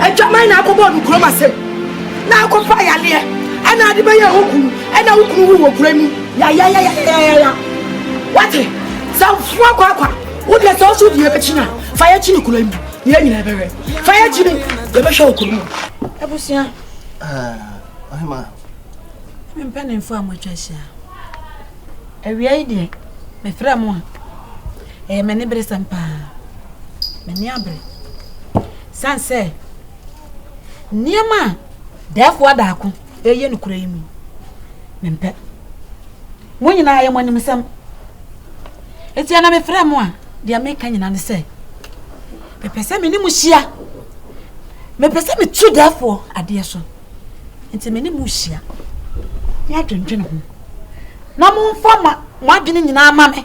Adwaman na akɔbɔɔ no kurom asɛm na akɔfa yareɛ ɛna ade bɛyɛ wo kunu ɛna wo kunu wu wɔ kura mu yayayayayaya wate sɛ foa kwakwa wo deɛ sɛ ɔso deɛ bɛkyi na fa yɛ kyini kura mu yɛ nyina ɛbɛwɛ fa yɛ kyini yɛbɛhwɛ wo kunu mu abusua ɔhema mempɛ ne mfo a moatwa ahyia awia yi deɛ mefrɛ mo a Ɛyɛ me aniberesɛm paa. M'ani abere. San sɛ nneɛma a Dɛɛfo Adaako reyɛ no kura yi mu no, mempɛ. Mo nyinaa ɛyɛ mo animsɛm. Eti ɛna mefrɛ mo a, deɛ meka nyinaa ne sɛ, mepɛ sɛ me ne mo hyia. Mepɛ sɛ metu Dɛɛfo adeɛ so. Nti me ne mo hyia. Ne adwendwene ho. Na momfa mo adwene nyinaa ma me.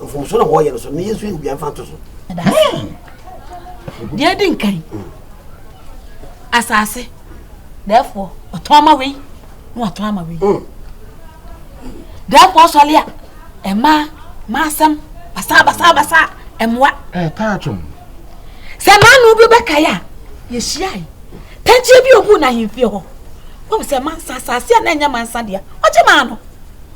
Mfomso na wɔyɛ no so na yɛnso yɛ obiara mfa nto so. Deɛ di nkan, asase, therefore ɔtɔn ama wei na ɔtɔn ama wei. Mm. Therefore sɔle a ɛma maasɛm basa basa basa ɛmoa. Ɛtaa twom. Sɛ maanu bi bɛkae a yɛhyiae pɛnkyeɛ bi ɔhu no ahemfie hɔ wɔm sɛ mansa asase a na ɛnyɛ mansa deɛ ɔgye maa no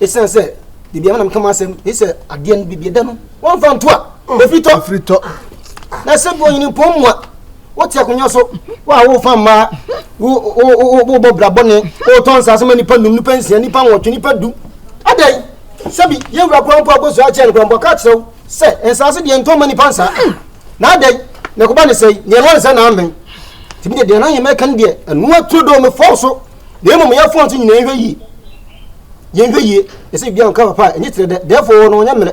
Esiane sɛ biribiara na meka m'asɛm, ɛfiri sɛ adeɛ no biribi da no wɔmfa nto a ɛfiri tɔ. Ɛfiri tɔ. Na sɛ bi ɔnyini mpɔn mu a, wote akonnwa so, wo a wofa mmaa, wobɔ bra bɔne, wotɔ nsaase ma nnipa num, nnipa nsia, nnipa nwɔtwe, nnipa du. Adɛn? Sɛbi, yɛn wura koraa mpo abosua akyɛ no koraa mpo aka akyerɛ wo sɛ nsaase deɛ ntɔ ma nnipa nsaa. Na adɛn? Na ɛkɔba ne sɛe, deɛ na ɔnsɛ na ammɛn. Tìmí deɛ deɛ n'ayɛ mɛka no deɛ ɛnoa turo dɔɔ mefɔw so Na mmom yɛmfa nto nyinaa nhwɛ yie. Yɛnhwɛ yie, ɛsɛ biribi a ɔka papa a, ɛnyɛ tiri dɛ, dɛɛfoɔ no ɔnyɛ mmerɛ.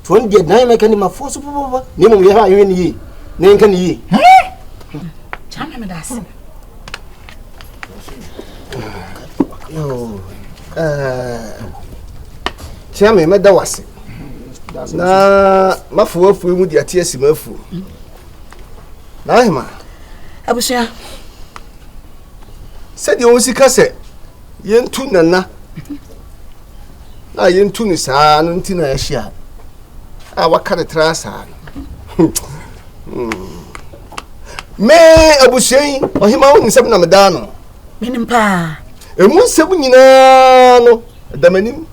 Nti ɔno deɛ dan mɛka ne mafoɔ so papapapa, na mmom yɛhwɛ a yɛhwɛ ne yie, na yɛnka ne yie. Kyame me da ase. Kyame mɛda wo ase. Na mafoɔ afuo mu de ate asi m'afuo. Na ahema. Abusua. sɛdeɛ ɔsi ka sɛ yɛntu nana na yɛntu no saa no nti na yɛahyia a waka ne tra saa no me abusua yi ɔhema wo nsɛm na medaa no menim paa ɛmu nsɛm nyinaa no da m'anim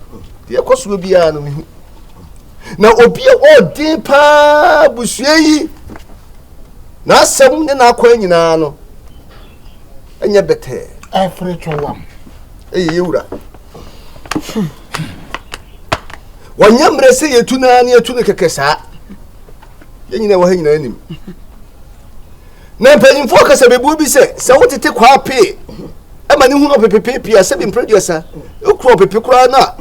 deɛ ɛkɔ soɔ biara no mehu na obi a ɔden paa abusua yi n'asɛm ne n'akwan nyinaa no ɛnyɛ bɛtɛɛ. ɛfere twɔ wam. ɛyɛ yɛ wura. wɔnyɛ mmerɛ sɛ yɛtu no ara ne yɛtu no kɛkɛ saa yɛn nyina wɔ ha nyinaa nim na mpanyimfoɔ kasa bɛbuo bi sɛ sɛ wotete kwaa pee ɛma ne hunu ɔpepepepee a sɛ bi mprɛduasa wokura ɔpepe koraa no a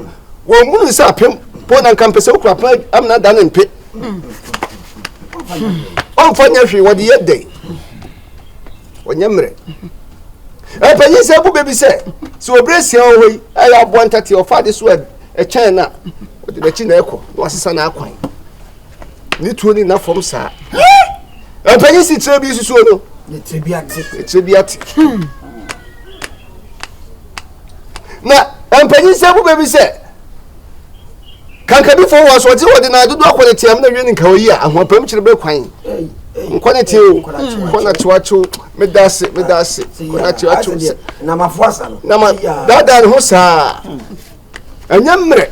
wɔmmunu sɛ apem po na nka mpɛ sɛ wokura apem amena da ne mpe ɔmfa nyɛ hwee wɔde yɛ dɛn ɔnyɛ mmerɛ ɛpanyin sɛ bu bɛbi sɛ sɛ ɔbrɛ sia wɔ hɔ yi ɛyɛ aboa ntateɛ ɔfa ade so ɛkyɛn no a ɔde n'akyi na ɛkɔ na wasesa n'akwan ne tuo ne nna fam saa ɛpanyin si tire bi susuo no tire bi ate tire bi ate na mpanyin sɛ bu bɛbi sɛ Kankabifoɔ wɔ asoɔgye wɔde na dodoɔ akɔ ne team na wie ne nkawa yi a ahoɔpam kyerɛ bɛ kwan nkɔ ne teo kɔ na tewatew meda ase meda ase kɔ na tewatew sɛ namafoɔ asa no nama daadaa ne ho saa ɛnyɛ mmerɛ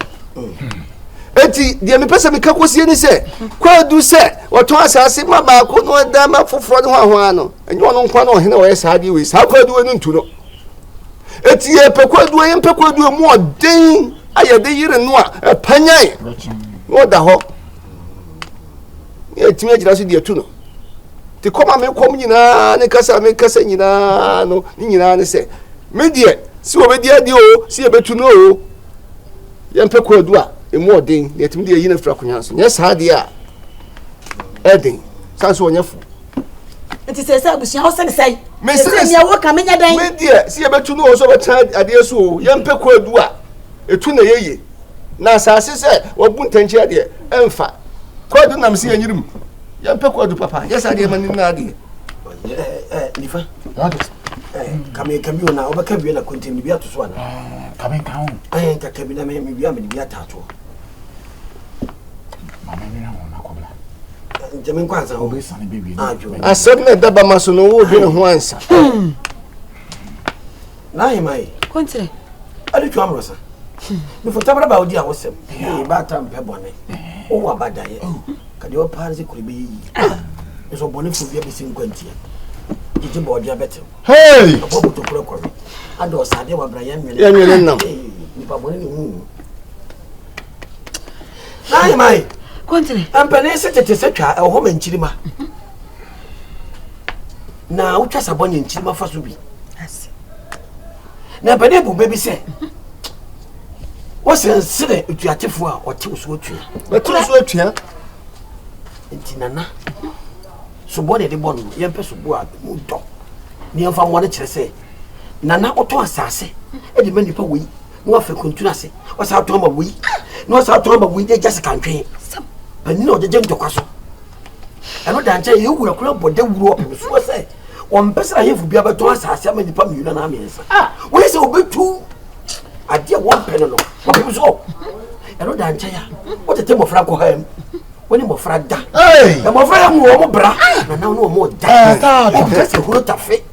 eti deɛ mepɛ sɛ meka kɔsie ne sɛ kwaadu sɛ wɔtɔn asase ma baako na ɔda ma foforɔ ne ho ahoa no ɛnyɛ ɔno nkwa na ɔhene ɔyɛ saa deɛ wei saa kwaadu wei no ntu no Eti yɛpɛ kwadu a yɛmpɛ kwadu a mu ɔden a yɛde yere no a ɛpanyan na ɔda hɔ na yɛtumi agyina so deɛ tu no te kɔm a mekɔm nyinaa ne kasa a mekasa nyinaa no ne nyinaa ne sɛ me deɛ si wɔbɛdi adeɛ o si yɛbɛtu no o yɛmpɛ kwadu a ɛmu ɔden na yɛtumi deɛ yi no afiri akonnwa so nyɛ saa deɛ a ɛden san so ɔnyɛ fo nti sɛ sɛ abusua wo sene sɛe sɛ nea woka menyɛ dɛn medeɛ sɛ yɛbɛtu no ɔ sɛ bɛtena adeɛ so o yɛmpɛ kɔ adu a ɛtu na yɛye na asase sɛ wabu ntɛnkyerɛ deɛ ɛmfa kɔ adu nam sɛ yɛnyerim yɛmpɛ kɔ adu papa yɛ sɛ adeɛ ma ne nyina adeɛ nifa kameka bi ona wobɛka bia na kontam ne bi ato so ana kameka ho kameka bi na mewia mede bi atatoɔ asɛm na ɛda bama so no wodwene ho ansa mefɔtabra ba wodi a wosɛm bɛata mpɛ bɔne wowɔ abadaeɛ kadeɛ ɔpaa no sɛ kuro bɛyɛ yi nso ɔbɔnefoɔ bia bɛsi nkwantia gyegye bɔɔde abɛtew ɔbɔ botokora kɔwe adɔɔsadeɛ wabrayɛ nwene nam nipa bɔne ne hu Mai mai. Kɔntene. Mpanin se tete sɛ twa ɛwɔ hɔ ma nkyirima. Na wotwa sa bɔnyɛ nkyirima fa so bi. Na mpanin bu bɛ bi sɛ wɔsɛ nsene otuatefoɔ a ɔte so atua. Bɛte so atua. Nti nana soboɔ na ɛde bɔ no yɛmpɛ soboɔ a mu dɔ ne yɛmfa mmoa no kyerɛ sɛ nana wotɔ asase de ma nnipa wei na wafa kuntun ase wasan atɔn ama wei na wasan atɔn ama wei de gyase kantwen panyin a ɔgyegye ntɔkwa so ɛno da nkyɛn yɛ wura kura bɔ dawuro ɔpem so sɛ wɔmpɛ sɛ ahemfo bi abɛtɔn asase ama nnipa mmienu anaa mmiɛnsa a wɔyɛ sɛ wɔbɛtu adeɛ a wɔmpɛ no no wɔpem so ɛno da nkyɛn a wotete mmɔfra nkɔ ha mu wọ́n ní mọ̀fra da mọ̀fra yẹ mu wọ́n mu bra nana wọ́n mu da wọ́n fẹsẹ̀ horo tafe.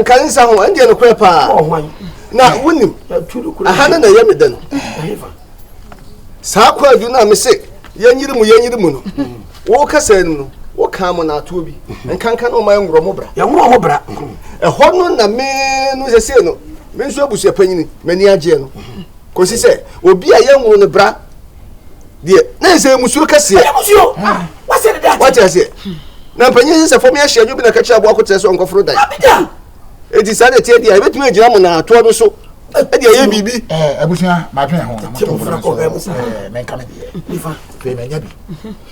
nka nsa ho ɛndeɛ nokorɛ paa na wonim aha ne na ɛyɛ me dɛ no saa kwaadu no a me se yɛnyere mu yɛnyere mu no woka sɛ no woka mo naatoɔ bi nkanka na ɔma ɛnworɔ mo bra yɛworɔ ho bra ɛhɔ no na me no sɛsei no me nso abusua panyini m'ani agyeɛ no kɔsi sɛ obi a yɛnworo no bra deɛ na ɛsɛ musuo kɛseɛ wate aseɛ na mpanyin sɛ sɛ fam yɛhyɛ adwo bi na kakyerɛ aboa koterɛ sɛ ɔnkɔforo dan ɛti saa na ɛteɛ deɛ ɛbɛtumi agyina mo naatoɔ no so ɛde ɛyɛ biribi abusua madwene ho na motɔmfra so menka me deɛ pɛ manya bi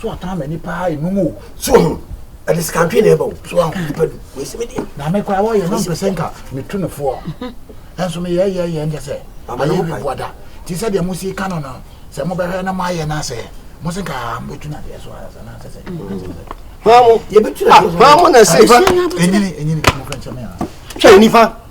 so ɔtaa m'ani paa enum o so ɔho ɛde sikantwe na ɛba o so ɔho nipa du wesi mi di na mi kora wɔyɛ no mpɛsɛ nka mi tu ne foɔ ɛnso mi yɛ yɛ yɛ nkyɛ sɛ ayɛ bi bu ada ti sɛ deɛ mo si ka no no sɛ mo bɛhwɛ na mo ayɛ na sɛ mo si ka mo tu na deɛ so ayɛ sɛ na sɛ sɛ hɔn mo yɛ bi tu na deɛ so hɔn mo na se enyini enyini mo kura nkyɛn mi a hwɛ nifa.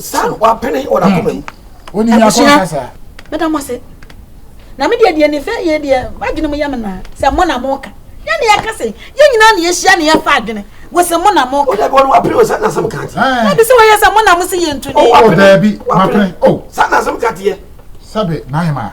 saa no wapene wɔ n'akoma mu. Wonim yɛ akɔn kasa. Meda mo ase. Na me deɛ deɛ ne fɛ yɛ deɛ m'adwene mu yɛ me naa sɛ mo na mo ka. Yɛ ne yɛka se yɛ nyinaa ne yɛhyia ne yɛfa adwene wɔ sɛ mo na mo ka. O daabi wɔn wapene wɔ saa nasɛm ka te. Daabi sɛ wɔyɛ sɛ mo na mo se yɛ ntu ne. O daabi wapene o saa nasɛm ka teɛ. Sɛbe n'ahema.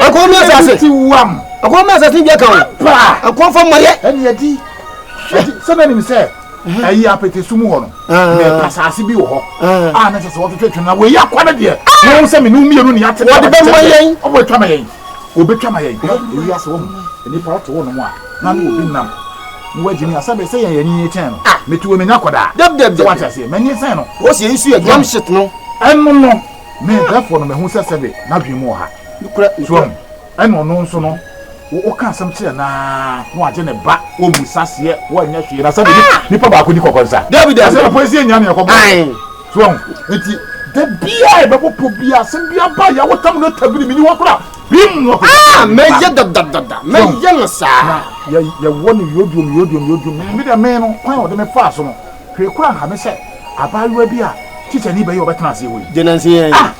ɛkɔn mi asase ɛkɔn mi asase bi ɛka o ɛkɔn fam mɔyɛ. ɛni ɛdi sɛbɛn nim sɛ ɛyi apete sumu hɔ no mɛ asase bi wɔ hɔ a ne sɛ sɛ wɔtwitwi twene na wɔyi akɔ ne deɛ na wɔn sɛ mi nu mmienu ni ate wɔde bɛ mɔ yɛn ɔbɔ etwa ma yɛn obe twa ma yɛn eyi ase wɔn nipa ɔte wɔn mu a na ne obi nam ne wa gyimi asɛbɛ sɛ yɛn yɛn ni kyɛn no mɛ tuwo mɛ nya kɔ daa dɛbdɛbdɛb sɛ wate aseɛ mɛ ni sɛn no wɔsi yɛn su yɛ drum shit no ɛno no. Me mfɛfoɔ no, mahu sɛ sɛbe n'adwene mu wɔ ha. So wahu? Ɛna ɔno nso no, wo, woka asɛm kyerɛ no ara na wagye ne ba, ɔmmisa aseɛ, wanyɛ hwee. Na sɛbe ni, nipa baako ni kɔkɔ nsa. Dabi, dabi, dabi. Asɛm a poesie nnya nea ɛkɔbɔ. Ae. So wahu? Enti, da biara a yɛbɛbɔ pɔ biara, asɛm bi aba a yɛawotam no atwa bini, menni hɔ koraa. Bim! Na ɔpagya ne ba. Mɛyɛ dadadada. Mɛyɛ no saa. Na yɛ, yɛwɔ no yodrom, yodrom, yodrom. Me, me deɛ, me no, kwan a ɔde me faa so no, Hwɛ kura Maame sɛ abaayewa bi a tikyani bɛyɛ ɔbɛtena aseɛ wɔ yi. Gye nansi yɛn. Ah!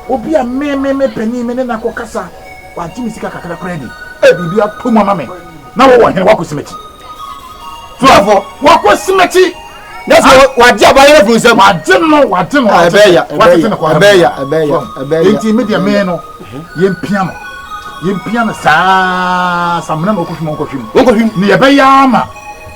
Obi a me, me, me panin me ne no akɔ kasa, wagye me sika kakra koraa di. Ei, biribi atɔ mu ama me. Na wɔwɔ hene, wakɔ simɛkyi. Furafo. Wakɔ simɛkyi. Na sɛ wagye abaayewa firi nsam. Wagye no, wagye no. Ɛbɛyɛ ya, ɛbɛyɛ ya, ɛbɛyɛ ya, ɛbɛyɛ ya, ɛbɛyɛ ya. Enti me deɛ me no, yɛn pia no, yɛn pia no saa, samina na ɔkɔhwim, ɔnkɔhwim. Ɔnkɔhwim. Ne yɛbɛyɛ ama.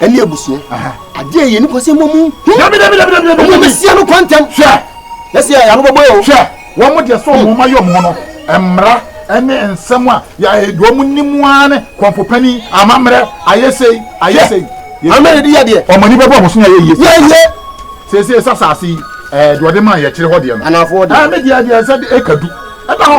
ɛne abusua adeɛ yɛ nipa sɛ mmɔ mu ɔmo bɛsia no kɔ ntɛm na sɛ yɛyɛ ano bɛbɔ yɛ o hwɛ wɔn mo deɛ sɛ ɔmo ma yɛ ɔmo no mmara ɛne nsɛm a yɛayɛ deɛ ɔmo nim ara ne kɔmpopani amammerɛ ayɛ sei ayɛ sei amammerɛ de yɛ adeɛ ɔmo ani bɛbɔ ɔmo so na yɛ yie yɛ yie seesei sɛ asase yi ɛɛ deɛ ɔde maa yɛ kyerɛ hɔ deɛ no anaafoɔ deɛ ɛɛ me deɛ deɛ sɛ ɛka du ɛda hɔ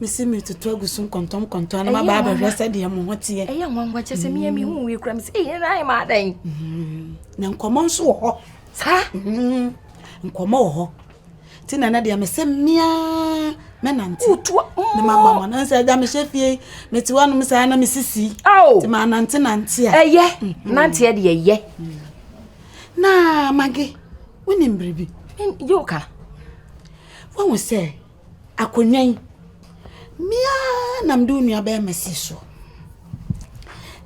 Mese meretutu agu so nkɔntɔnkɔntɔn na maba abɛhwɛ sɛdeɛ mo ho teɛ. Ɛyɛ nwanwa kyɛ sɛ meyɛ mehu wei kora me sɛ ɛyɛ na ayɛ maa dɛn. Mm-hmm. Na nkɔmmɔ nso wɔ hɔ. Saa? Mm-hmm. Nkɔmmɔ wɔ hɔ. Nti na na deɛ mesɛ mmea mɛnante. Wotua mmɔ. Ne mama ma na sɛ ɛda mehyɛ fie mete hɔ nom saa na mesisi. Ao. Nti ma nante nante a. Ɛyɛ. Mm-hmm. Nanteɛ deɛ ɛyɛ. Mm. Na mage wonim biribi. Yɛ ka. Wɔn sɛ Akonnwa yi, me ara na mede wo nuabarima sii so.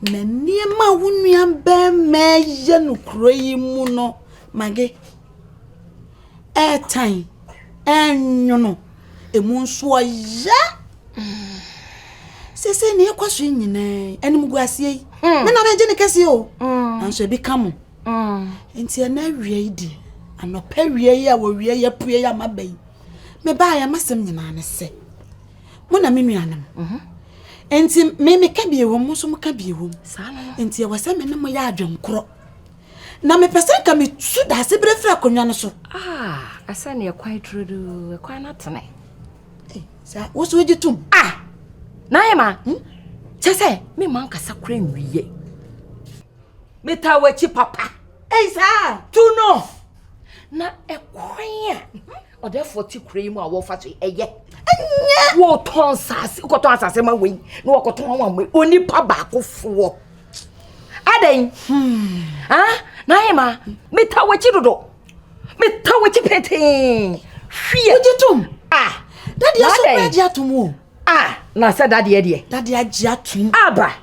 Na nneɛma a wo nuabarima reyɛ no kuro yi mu no, Mage, ɛretan, ɛrenwono, emu nso ɔya. Sese nea ɛkɔ so nyinaa animguaseɛ yi, hmm. me na mɛgye ne kɛseɛ o, hmm. nanso ebi ka mo. Enti ɛna awia yi deɛ, anɔpa awia yi a wɔwia yi apue yi ama ba yi, mebaeɛ m'asɛm nyinaa ne sɛ, mo na me nuanom. Mhm. Enti me meka bie wɔ mo nso moka bie wɔ mu. Enti ɛwɔ sɛ me ne mo yɛ adwenkorɔ. Na mepɛ sɛ nka metu daase berɛ firi akonnwa no so. Ah, ɛsɛ ne ɛkwan turodoo, ɛkwan no atene. Eh, sɛ wo so wogye tom. Ah, na ayɛ ma. Hmm? Kyɛ sɛ, me ma nkasa kora nwie. metaa w'akyi papa ɛyi saa tu no na ɛkwan a ɔdɛfoɔ te kura yi mu a wɔfa so ɛyɛ ɛnyɛ wɔtɔn asase wokɔtɔn asase ma wei na wɔkɔtɔn ama wei onipa baakofoɔ adɛn hmm. ah, na ayɛ ma metaa w'akyi dodo metaa w'akyi petee hwie wogye tom ah dadeɛ so wogye atom o ah na sɛ dadeɛ deɛ dadeɛ agye atom aba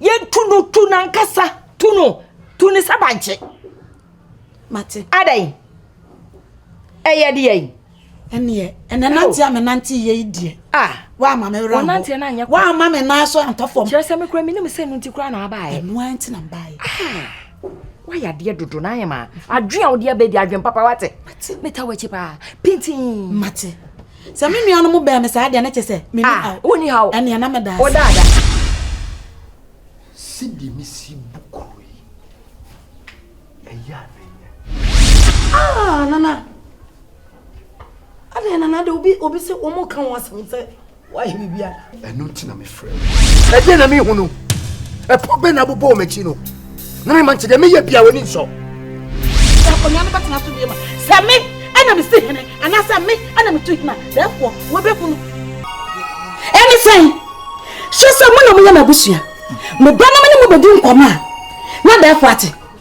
yɛtu no tu nankasa tu no tu ne sɛ bankye mate adɛn ɛyɛ deɛ yi ɛneɛ ɛnɛ nante a menante yɛ yi deɛ a woama me werɛ nante no anyɛ woama me nan so antɔ fam kyerɛ sɛ mekora menim sɛ no nti koraa na abaeɛ ɛno ara nti na mbaeɛ woayɛ adeɛ dodo na ayɛ ma adwen a wode abɛdi adwen papa wate meta wakyi paa pintin mate Sɛ me nuanom bɛn me saa deɛ ne kyɛ sɛ me ni haw. Wo ni haw. Ɛneɛ na me da ase. Wo da ada. Sɛdeɛ me si bu kuro yi, ɛyɛ a na nyɛ. Ah Nana. Adeɛ Nana de obi obi se wɔn ka wɔn asɛm sɛ wɔayɛ biribi a. Ɛno nti na mefrɛ wo. Ɛdeɛ na mehu no. Ɛpɔ bɛn na abobɔ wɔ m'akyi no. Na mema nkyɛ deɛ meyɛ bia w'ani nsɔ. Sɛ akonnwa no bɛtena so bie ma. Sɛ me ɛna mesi hene anaasɛ me ɛna metu hene a, therefore wɔbɛhu no. Ɛne sɛn? Hyɛ sɛ mo na moyɛ m'abusua. Meba na me ne mo bɛdi nkɔmmɔ a, na therefore ate.